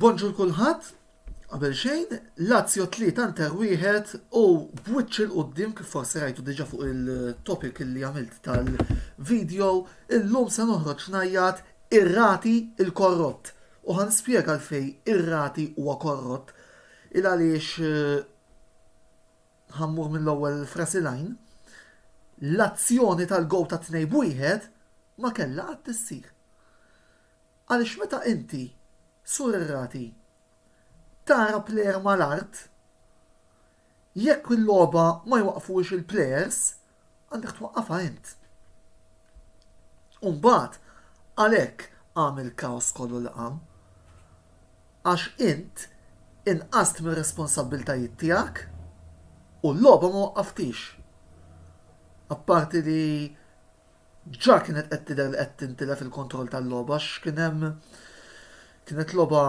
Bonġur kulħadd, qabel xejn, Lazio tlieta nter wieħed u b'wiċċ il qudiem kif forsi rajtu diġà fuq il-topic li għamilt tal-video, illum se noħroġ ngħajjat ir-rati il-korrott. U ħa nispjega għalfejn ir-rati huwa korrott, il għaliex ħa mmur mill-ewwel f'ras il-għajn, l-azzjoni tal-gowl tat-tnejn b'wieħed ma kellha qatt issir. Għaliex meta inti, sur ir-rati, tara plejer mal-art, jekk il-logħba ma jwaqqfuhiex il-plejers, Għandek twaqqafha int. U mbagħad għalhekk qam il-kaos kollu li qam. Għax int inqast mir-responsabbiltajiet tiegħek u l-logħba ma waqqaftix. Apparti li ġa kienet qed tidher li qed tintilef il-kontroll tal-logħba għax kien hemm kienet logħba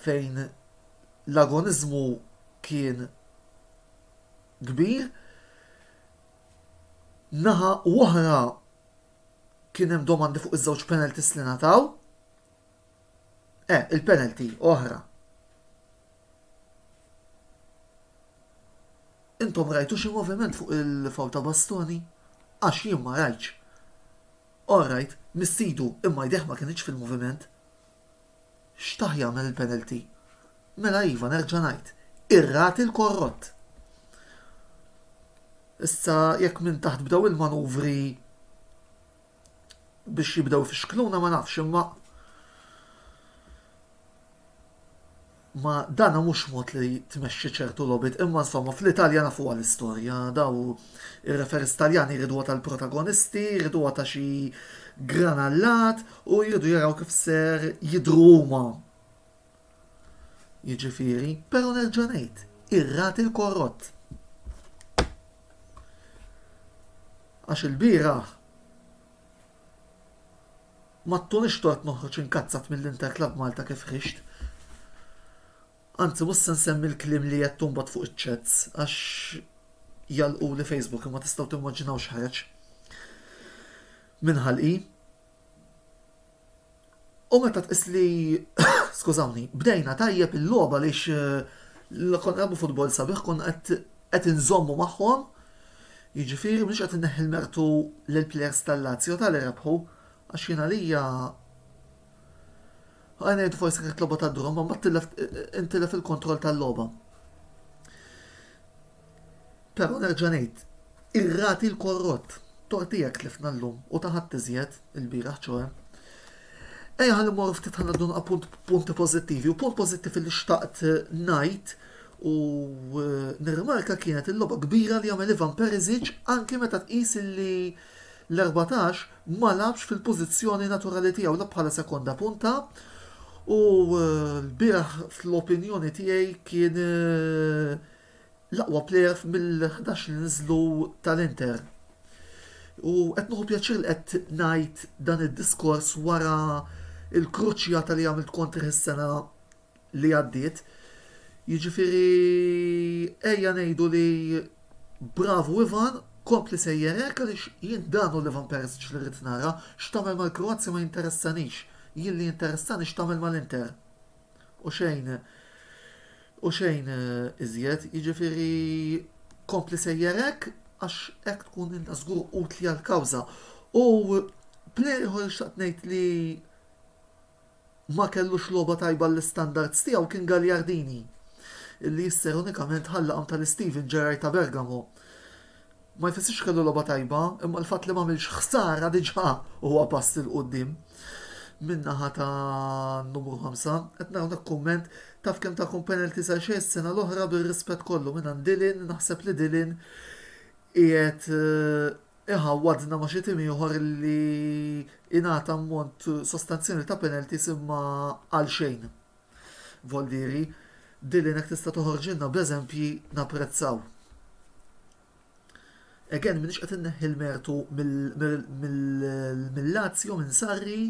fejn l-agoniżmu kien kbir, naħa oħra kien hemm domandi fuq iż-żewġ penalties li ngħataw. Eh, il-penalty oħra. Intom rajtu xi moviment fuq il-faw ta' bastoni? Għax jien ma rajtx. All right, missidu imma jdejh ma kienx fil-moviment. Xtah jagħmel il-penalty. Mela iva, nerġa' ngħid, ir-ragħti l-korrott. Issa jekk minn taħt bdew il-manuvri biex jibdew ifixkluna ma nafx imma Ma dan mhux mod li tmexxi ċertu logħbiet, imma insomma fl-Italja nafuha l-istorja, daw ir-referees Taljani jriduha tal-protagonisti, jriduha ta' xi gran allat u jridu jaraw kif ser jidhru huma. Jiġifieri, però nerġa' ngħid, ir-ragħti l-korrott. Għax ilbieraħ. Ma ttunix tort noħroġ inkazzat mill-Inter Club Malta kif ħriġt. Anzi mhux se nsemmi l-kliem li għedtu mbagħad fuq iċ-chats għax jagħlquli Facebook imma tistgħu timmaġinaw x'ħareġ minn ħalqi. U meta tqis li skużawni, bdejna tajjeb il-logħba għaliex eh, konna nagħmlu futbol sabiħ konna qed inżommu magħhom Jiġifieri m'iniex qed inneħħi l-mertu lill-plejers tal-Lazio ta' li rebħu għax jien għalija Ħa ngħidu forsi kienet logħba ta' drum imma intilef il-kontroll tal-logħba. Però nerġa' ngħid, ir-rati l-korrott tortijek tlifna llum u ta' ħadd iżjed il-bieraħ ċoe. Ejja ħalli mmorru ftit ħanaddu appunt punti pożittivi u punt pożittiv li xtaqt ngħid u nirrimarka kienet il-logħba kbira li għamel Ivan Perisic anki meta tqis li l-14 ma lagħabx fil-pożizzjoni naturali tiegħu la bħala sekonda punta u lbieraħ fl-opinjoni tiegħi kien l-aqwa plejer mill-11 li niżlu tal-Inter. U qed nieħu pjaċir li qed ngħid dan id-diskors wara il-kruċjata li għamilt kontri is-sena li għaddiet, jiġifieri ejja ngħidu li bravu Ivan, kompli sejjer hekk għaliex jien dan hu l-Ivan Perisic li rrid nara, x'tagħmel mal-Kroazja ma jinteressanix, jien li jinteressani x'tagħmel mal-Inter. U xejn u xejn iżjed, jiġifieri kompli sejjer hekk għax hekk tkun inta żgur utli għall-kawża. U plejer ieħor xtaqt ngħid li ma kellux logħba tajba għall-istandards tiegħu kien Gagliardini, li jisser unikament ħalla qalb tal-Steven Gerrard ta' Bergamo. Ma jfissirx kellu logħba tajba, imma l-fatt li m'għamilx ħsara diġà huwa pass 'il quddiem min-naħa tan-numru ħamsa. Qed nara hawnhekk kumment, Taf kemm takom penalties għal xejn is-sena l-oħra bir-rispett kollu mingħand Dillon, naħseb li Dillon qiegħed Iħawwadna ma' xi tim ieħor li ingħata ammont sostanzjali ta' penalties imma għalxejn. Voldieri, Dylan jekk tista' toħorġilna b'eżempji napprezzaw. Again m'iniex qed inneħħi l-mertu mill-Lazio minn Sarri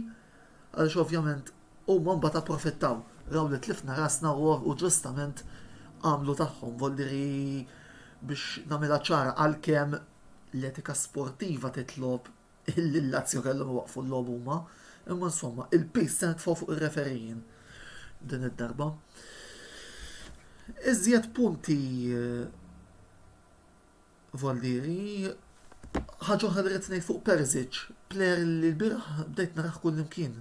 għaliex ovvjament huma mbagħad approfittaw raw li tlifna rasna u ġustament għamlu tagħhom. Voldieri biex nagħmilha ċara għalkemm l-etika sportiva titlob illi l-Lazio kellhom iwaqqfu l-logħob huma, imma insomma, il-piż se nitfgħu fuq ir-referijin din id-darba. Iżjed punti eh, Voldieri, ħaġa oħra li rrid ngħid fuq Perzic, player li l-biraħ bdejt naraħ kullimkien.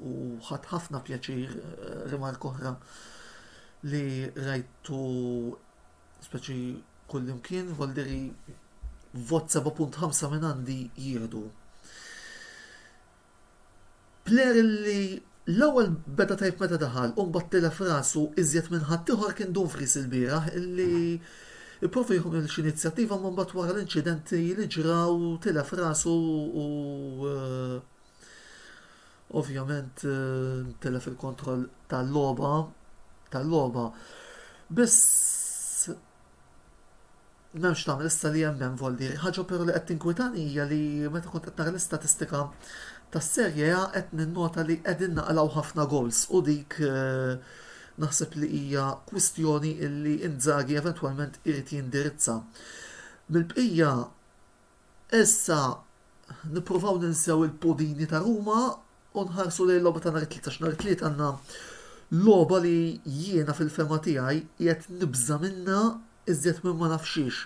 u ħadd ħafna pjaċir eh, rimark oħra li rajtu speċi kullimkien voldiri vot 7.5 minn għandi jieħdu. Player li l-ewwel beda tajb meta daħal u mbagħad tilef rasu iżjed minn ħadd ieħor kien Dumfries il-bieraħ illi Iprofi jħu minn inizjattiva ma mbagħad wara l-inċidenti li ġraw tilef rasu u eh, Ovvjament eh, telef il-kontroll tal-logħba tal-logħba. Biss m'hemmx tagħmel issa li hemm hemm volli. Ħaġa però li qed tinkwitani hija li meta kont qed nara l-istatistika tas-serje A qed ninnota li qegħdin naqlaw ħafna goals u dik eh, naħseb li hija kwistjoni illi Inzaghi eventwalment irid jindirizza. Mill-bqija Issa nippruvaw ninsew il-pudini ta' Ruma u nħarsu lejn logħba ta' nhar it-Tliet għax nhar it-Tliet għandna logħba li jiena fil-fehma tiegħi qiegħed nibża' minnha iżjed minn ma naf xiex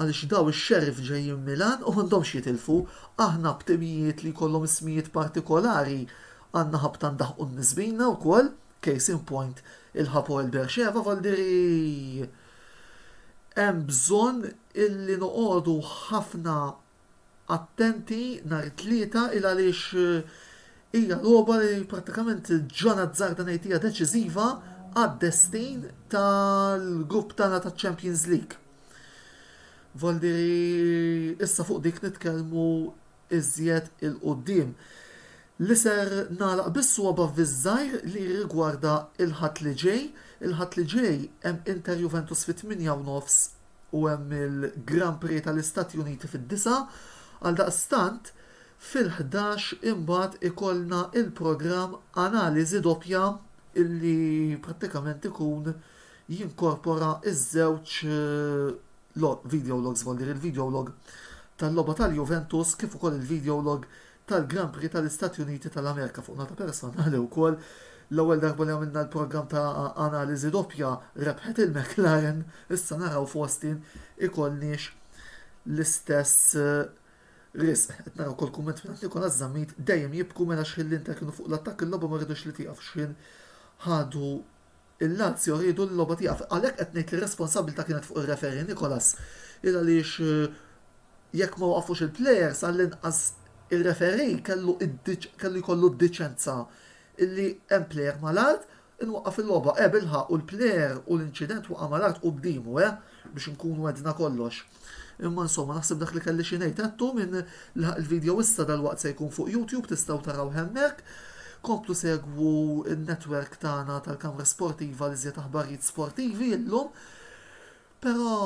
għaliex daw ix-Sheriff ġejjin Milan u m'għandhomx jitilfu. Aħna b'timijiet li jkollhom ismijiet partikolari għandna ħabta ndaħħqu n-nies bina wkoll, case in point il-Hapoel Beersheva, Valdieri hemm bżonn illi noqogħdu ħafna attenti nhar it-Tlieta il għaliex hija logħba li prattikament John Azzarda ngħid hija deċiżiva għad-destin tal-grupp tagħna taċ-Champions League. Voldiri issa fuq dik nitkellmu iżjed 'il quddiem, li ser nagħlaq bis-swaba' fiż-żgħir li jirrigwarda l-Ħadd li ġej. Il-Ħadd li ġej hemm Inter Juventus fit-tmienja u nofs u hemm il-Grand Prix tal-Istati Uniti fid-disgħa. Għaldaqstant, fil-ħdax imbagħad ikollna l-programm Analiżi Doppja li prattikament ikun jinkorpora ż-żewġ Log, Videolog Żvolli l-videolog tal-logħba tal-Juventus kif ukoll il-videolog tal-Grand Prix tal-Istati Uniti tal-Amerika. Fuq nota personali wkoll, l-ewwel darba li għamilna l-programm ta' analiżi doppja rebħet il-McLaren, issa naraw f'Austin ikollniex l-istess riżq. Qed nara wkoll kumment mingħand Nicolas Zammit, dejjem jibku mela x'ħin l-Inter kienu fuq l-attakk il-logħba ma ridux li tieqaf x'ħin ħadu Il-Lazio riedu li l-logħba tieqaf. Għalhekk qed ngħid li r-responsabbiltà kienet fuq ir-referee Nicolas il għaliex jekk ma waqafux il-players għall-inqas ir-referee kellu kellu jkollu d-deċenza illi hemm player mal-art inwaqqaf il-logħba. Eh bilħaqq u l-player u l-inċident waqa' mal-art quddiemu eh biex inkunu għedna kollox. Imma insomma naħseb dak li kelli xi ngħid għedtu minn laħaq il-video issa dalwaqt se jkun fuq YouTube tistgħu taraw hemmhekk. Komplu segwu n-netwerk tagħna tal-Kamra Sportiva li żjed aħbarijiet sportivi illum. Però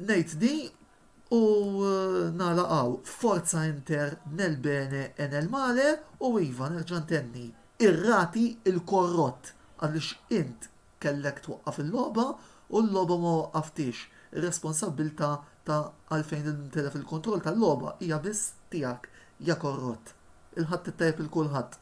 ngħid di u eh, nalaqgħu forza inter nel bene e nel male u iva nerġa' ntenni irrati il-korrott għaliex int Kellek twaqqaf il-logħba u l-logħba ma waqqaftiex. Ir-responsabbiltà ta' għalfejn intilef il-kontroll tal-logħba hija biss tiegħek, ja korrott. Il-ħadd it-tajjeb lil kulħadd.